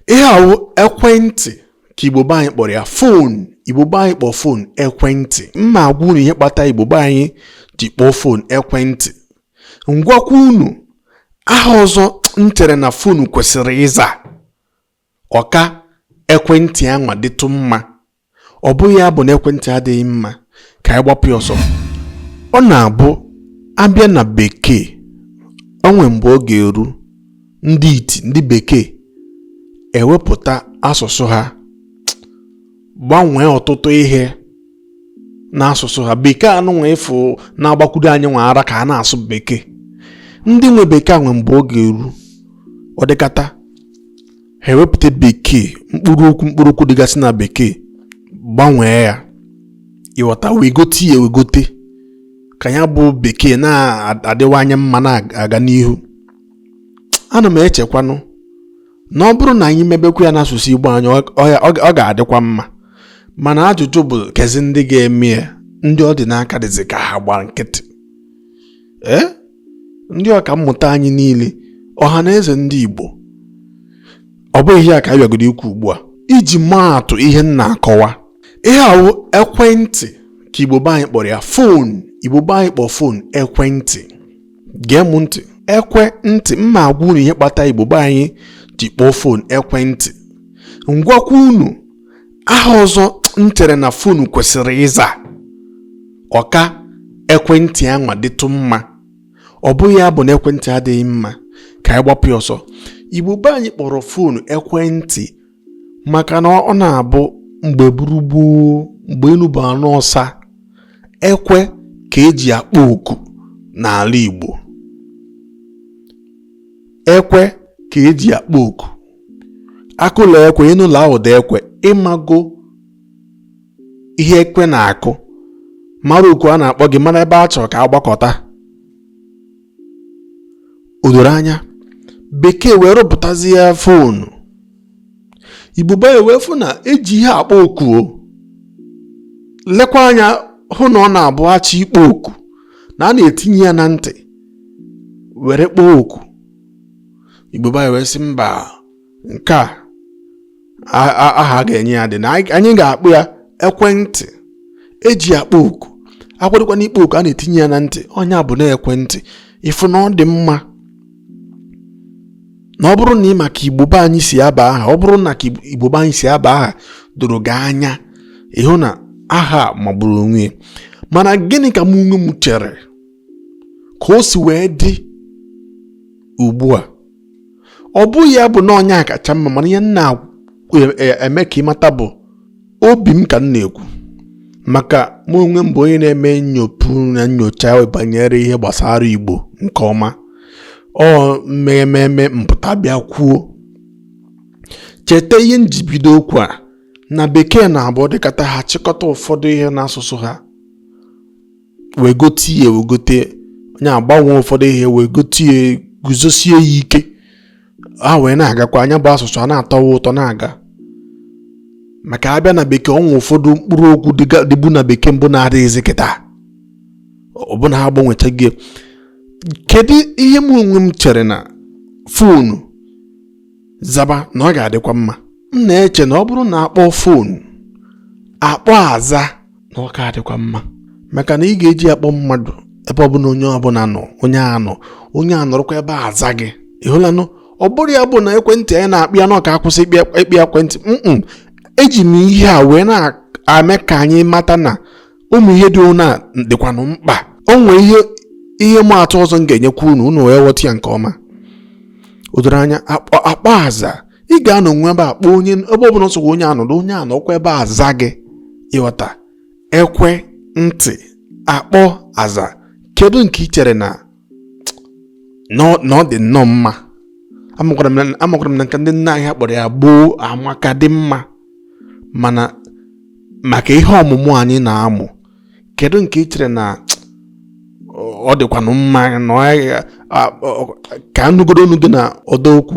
ihe awụ ekwentị ka igbo be anyị kpọrọ ya phone igbo be anyị kpọọ phone ekwentị m ma-agwa unu ihe kpata igbo be anyị ji kpọọ phone ekwentị m gwakwa unu aha ọzọ m chere na phone kwesịrị ịza ọ ka ekwentị anwa dịtụ mma ọ bụghị ya bụ na ekwentị adịghị mma ka anyị gbapụ ya ọsọ ọ na-abụ a bịa na bekee o nwe mgbe ọ ga-eru ndị iti ndị bekee ewepụta asụsụ ha gbanwee ọtụtụ ihe n'asụsụ ha bekee anụnwa ị fụ na-agbakwudo anyịnwa ara ka a na-asụ bekee ndị nwe bekee nwe mgbe ọ ga-eru ọ dịkata ha ewepụta bekee mkpụrụ okwu dịgasị na bekee gbanwee ya ị ghọta wegote ya ewegote ka ya bụ bekee na-adịwanye mma na-aga n'ihu ana m echekwanụ na ọ bụrụ na anyị mebekwa ya n'asụsụ Igbo anyị ọ ga-adịkwa mma mana ajụjụ bụ kezi ndị ga-eme ya ndị ọ dị n'aka dịzi ka ha gba nkịtị ee eh? ndị ọka mmụta anyị niile ọha na eze ndị Igbo ọ bụghị ihe a ka a bịagodo ikwu ugbu a iji maa atụ ihe m na-akọwa ihe ahụ ekwentị ka Igbo be anyị kpọrọ ya phone Igbo be anyị kpọrọ phone ekwentị gee m ntị ekwe ntị m ma-agwa unu ihe kpata Igbo be anyị ji kpọọ phone ekwentị m gwakwa unu aha ọzọ m chere na phone kwesịrị ịza ọ ka ekwentị anwa dịtụ mma ọ bụghị ya bụ na ekwentị adịghị mma ka anyị gbapụ ya ọsọ igbo be anyị kpọrọ phone ekwentị maka na ọ na-abụ mgbe buru gboo mgbe elu bụ ana ọsa ekwe ka e ji akpọ oku n'ala igbo ekwe ka e ji akpọ oku a kụla ekwe ị nụla ụda ekwe ị mago ihe ekwe na-akụ mara oku a na-akpọ gị mara ebe a chọrọ ka a gbakọta o doro anya bekee wee rụpụtazie phone igbo be anyị wee fụ na e ji ihe akpọ oku o lekwa anya hụ na ọ na-abụ a chọọ ịkpọ oku na a na-etinye ya na ntị were kpọọ oku igbo be anyị wee sị mba nke a aha a ga-enye ya dị na anyị ga-akpọ ya ekwentị e ji akpọ oku a kwadokwanụ ịkpọ oku a na-etinye ya na ntị ọ nya bụ na ekwentị ị fụ na ọ dị mma na ọ bụrụ na ị ma ka igbo be anyị si aba aha ọ bụrụ na ka igbo be anyị si aba aha doro gị anya ị hụ na aha magburu onwe mana gịnị ka mụ onwe m chere ka o si wee dị ugbu a ọ bụghị ya bụ na ọ nya kacha mma mana ihe m na-eme ka ị mata bụ obi m ka m na-ekwu maka mụ onwe m bụ onye na-eme nnyopụ na nyocha banyere ihe gbasara igbo nke ọma ọ ihe mere m pụta bịa kwuo cheta ihe m ji bido okwu a na bekee na-abụ ọ dịkata ha chịkọta ụfọdụ ihe n'asụsụ ha wegote ya wegote nya agbanwe ụfọdụ ihe wegote ya guzosie ya ike ha wee na-agakwa nya bụ asụsụ a na-atọwa ụtọ na-aga maka a bịa na bekee o nwe ụfọdụ mkpụrụ okwu dịbu na bekee mbụ na-adịghịzi kịta ọ bụ na ha gbanwechaghị kedu ihe m onwe m chere na foonu zaba na ọ ga-adịkwa mma m na-eche na ọ bụrụ na a kpọọ foonu akpọ aza na ọ ga-adịkwa mma maka na ị ga-eji akpọ mmadụ ebe ọ bụla onye ọbụla nọ onye a nọ onye a nọrọkwa ebe a aza gị ị hụlanụ ọ bụrọ ya bụ na ekwentị anyị na-akpọ ya na ọ ka akwụsị ịkpọ ya ekwentị eji m ihe a wee na-eme ka anyị mata na ụmụ ihe dị ụna dịkwanụ mkpa o nwee ihe ịma atụ ọzọ m ga-enyekwa unu unu wee ghọta ya nke ọma o doro anya akpọ aza ị ga-anọnwu ebe a kpọọ onye ebe ọ bụla ọ sọkwa onye a nọdụ onye a nọọkwa ebe a aza gị ị ghọta ekwentị akpọ aza kedu nke ị chere na na ọ dị nnọọ mma amakwara m na nke ndị nna anyị kpọrọ ya gboo amaka dị mma mana maka ihe ọmụmụ anyị na-amụ kedu nke ị chere na ọ dịkwanụ mma na ka a nụgodu ọnụ gị n'ọdọ okwu